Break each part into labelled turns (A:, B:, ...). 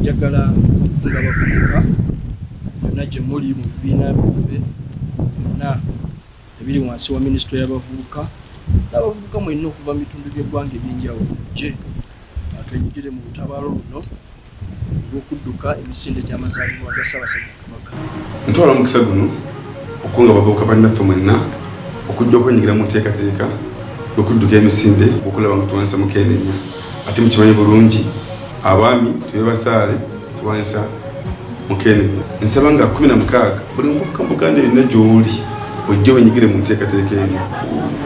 A: njagala okukunda abavubuka yonna gye muli mu bibiina byaffe byonna ebiri wansi wa minisitule y'abavubuka n'abavubuka mwenna okuva mu bitundu by'eggwanga eby'enjawulo gye twenyigire mu lutabaalo luno gw'okudduka emisinde gy'amazaalibwa ga Ssaabasajja Kabaka. Ntwala omukisa
B: guno okukunga abavubuka bannaffe mwenna okujja okwenyigira mu nteekateeka y'okudduka emisinde okulaba nga tulwanyisa mukeenenya ate mukimanyi bulungi abaami tube basaale okulwanyisa mukeenenya nsaba nga kumi na mukaaga buli muvubuka mu buganda yonna gy'oli ojja wenyigire mu nteekateeka eno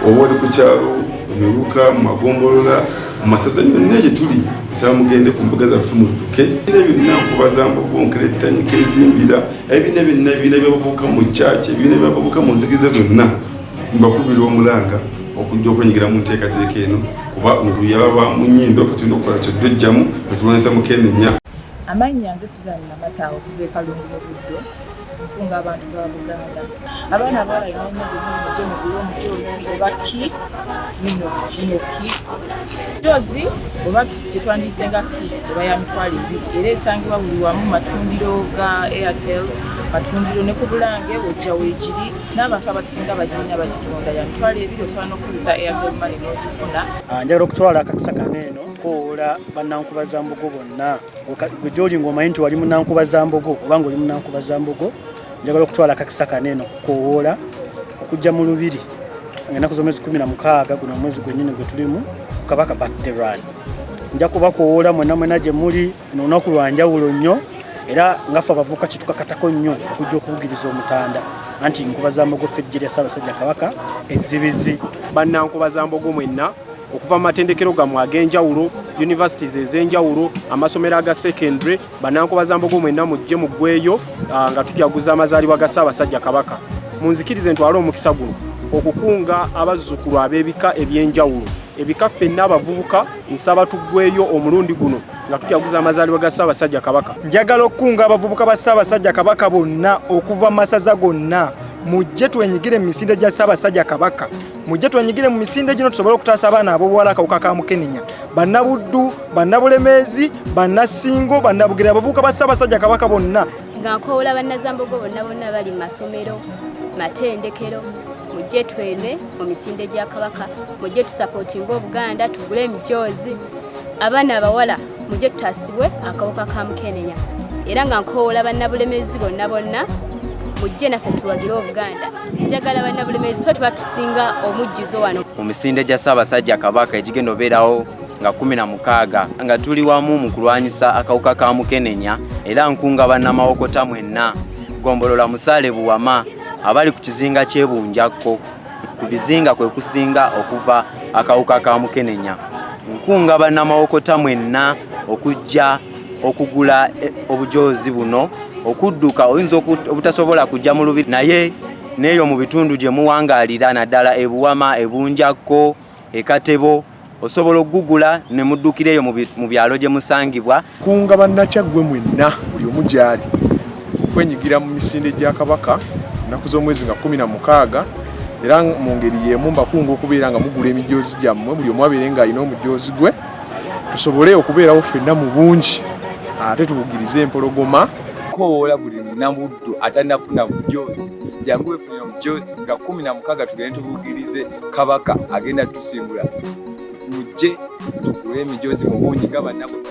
B: oba oli ku kyalo mu miruka mu magombolola mu masaza yonna gye tuli nsaba mugende ku mbuga zaffe mudduke bina byonna nkubazamba okubonkera ettanyika ezimbira ebina byonna ebiina byabavubuka mu kyaki ebiina byabavubuka mu nzikiza zonna mbakubira omulanga okujja okwenyigira mu nteekateeka eno kuba oluyaba lwa mu nnyindo fe tulina okukola kyoddojjamu netulwanyisa mukenenya amannya nze
C: suzan namataawo okuva ekalungu mu buddo okukunga abantu ba buganda abaana abawala yonayina gyemuli mugye mugule omujoozi oba kit ino ino kit joozi oba gyetwandiyise nga kit eba ya mitwalo ebiri era esangibwa buli wamu matundiro ga airtel matundiro ne ku bulange ojja weegiri n'abantu abasinga bagirina bagitunda ya mitwalo ebiri osobola n'okukozesa airtel mane n'ogifuna ah, njagala okutwala
D: akakisa kano eno kowoola bannankubaza mbugo bonna gwe gyoli ng'omanyi nti wali munankuba za mbogo oba ng'oli munankuba za mbogo njagala okutwala akakisa kano eno kukowoola okujja mu lubiri ngaenaku z'omwezi kumi na mukaaga guno omwezi gwennyini gwe tulimu kabaka birthday run nja kubakowoola mwena mwena gye muli nolunaku lwa njawulo nnyo era ngaffe abavubuka kitukakatako nnyo okujja okubugiriza omutanda anti nkuba za mbogo ffe ejje lya ssaabasajja kabaka ezzibizi bannankuba za
E: mbogo mwenna okuva mu matendekero gammwe ag'enjawulo universities ez'enjawulo amasomero aga secondary banankobazambogo mwenna mujje muggweeyo ah, nga tujaguza amazaalibwa ga ssaabasajja kabaka munzikirize ntwale omukisa guno okukunga abazzukulu ab'ebika eby'enjawulo ebika ffenna abavubuka nsaba tuggweeyo omulundi guno nga tujaguza amazaalibwa ga ssaabasajja kabaka njagala okukunga
D: abavubuka ba ssaabasajja kabaka bonna okuva mu masaza gonna mujje twenyigire mu misinde gya ssaabasajja kabaka mujje twenyigire mu misinde gino tusobole okutaasa abaana abobuwala akawuka ka mukenenya bannabuddu bannabulemeezi bannasingo bannabugere abavubuka ba ssaabasajja kabaka bonna nga nkowula
F: bannazambogo bonna bonna bali mu masomero matendekero mujje tweme mu misinde gya kabaka mujje tusapootinga obuganda tugule emijoozi abaana abawala mujje tutaasibwe akawuka ka mukenenya era nga nkowula bannabulemeezi bonna bonna mujje naffe tuwagire obuganda njagala banna bulemeezi fe tuba tusinga omujjuzo wano mu misinde gya ssaabasajja
G: kabaka egigenda obeerawo nga kumi na mukaaga nga tuli wamu mu kulwanyisa akawuka ka mukenenya era nkunga bannamawokota mwenna gombolola musaale buwama abali ku kizinga kyebunjakko ku bizinga kwe kusinga okuva akawuka ka mukenenya nkunga bannamawokota mwenna okujja okugula eh, obujoozi buno okudduka oyinza obutasobola kujja mu lubiri naye neeyo mu bitundu gye muwangaalira naddala ebuwama ebunjakko ekatebo osobola okugugula ne muddukira eyo mu byalo gye musangibwa kunga bannakyaggwe
E: mwenna buli omu gyali okwenyigira mu misinde gya kabaka ennaku z'omwezi nga kumi na mukaaga era mu ngeri y'emu mbakunga okubeera nga mugula emijoozi gyammwe buli omu abeere ng'alina omujoozi gwe tusobole okubeerawo ffenna mu bungi ate tubugirize empologoma kowoola buli
H: munamuddu atanafuna bujoozi jangu wefunire omujoozi nga kumi na mukaga tugende tubugirize kabaka agenda tusimbula mujje tugule emijoozi mu bungi nga banabuddu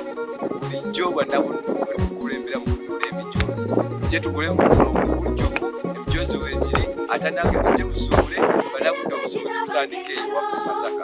H: bulijjo banabuddu fe tukulembera mu kugula emijoozi mujje tugule mubujjufu emijoozi weziri atanage mujje musuubule banabuddu obusuubuzi butandike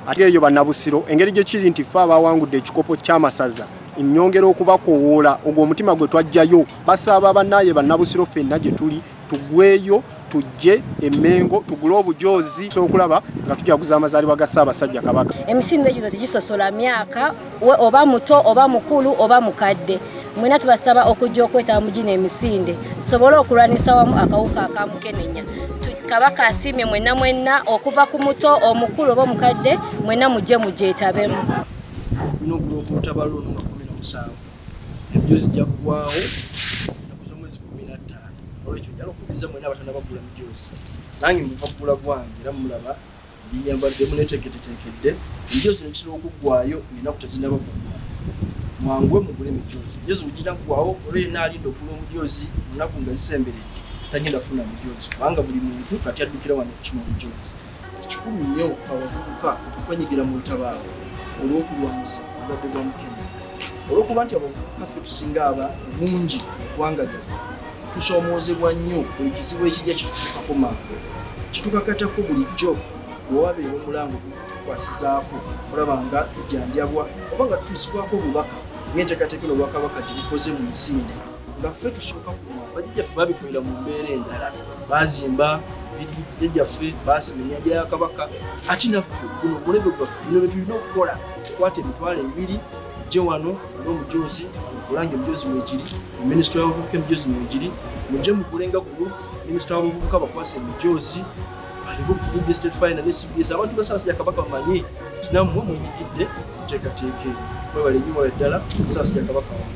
H: ate eyo bannabusiro
E: engeri gye kiri nti ffe abaawangudde ekikopo ky'amasaza nnyongera okubakowoola ogwo omutima gwe twajjayo basaba bannaaye bannabusiro ffenna gye tuli tugweyo tujje emengo tugule obujoozi okulaba nga tujaguza amazaalibwa ga ssaabasajja kabaka emisinde gino tegisosola
F: myaka we oba muto oba mukulu oba mukadde mwena tubasaba okujja okwetaba mu gino emisinde tusobole okulwanisa wamu akawuka akamukenenya kabaka asiimye mwena mwena okuva ku muto omukulu oba omukadde mwena mujje mugyetabemu olina
A: okulooka olutaba luno nga kumi nomusanvu ebyo zijja kugwawo enaku zomwezi kumi nattaano olwekyo njala okubiriza mwena abatana bagula mujoozi nange muva kugula gwange era mulaba Ndi nyambadde muneteeketeteekedde enjo zino kitera okuggwayo ng'ennaku tezinnaba kuggwa. Mwanguwe mugule emijoozi. Emijoozi bwe ginaggwawo olwo yenna alinda okugula omujoozi mu nnaku nga zisemberedde tagenda kufuna mujoozi kubanga buli muntu kati addukira wano okukima omujoozi. Kikulu nnyo ffe abavubuka okwenyigira mu lutabaalo olw'okulwanyisa obulwadde bwa mukenenya olw'okuba nti abavubuka ffe tusinga aba obungi mu ggwanga lyaffe. tusoomoozebwa nnyo buli kizibu ekijja kitutuukako mangu kitukakatako bulijjo wewabeera omulango gutukwasizaako olaba nga tujjanjabwa oba nga tutuusibwako obubaka ng'enteekateeka eno obwakabaka gye bukoze mu misinde nga ffe tusooka kuma bajjajjaffe babikolera mu mbeera endala baazimba ebijja gyaffe baasima ennyanja ya kabaka ati naffe guno omulembe gwaffe bino bye tulina okukola tukwata emitwalo ebiri ejje wano omujuzi olange omujuzi mwegiri minisita wabavubuka emijuzi mwegiri mujje mukulenga kuno minisita wabavubuka bakwasa emijuzi alibubbstetfinanecbs abantu basaasira kabaka bamanye nti nammwe mwenyigidde muteekateeka eyo mwebale nyo mwala ddala saasira kabaka wange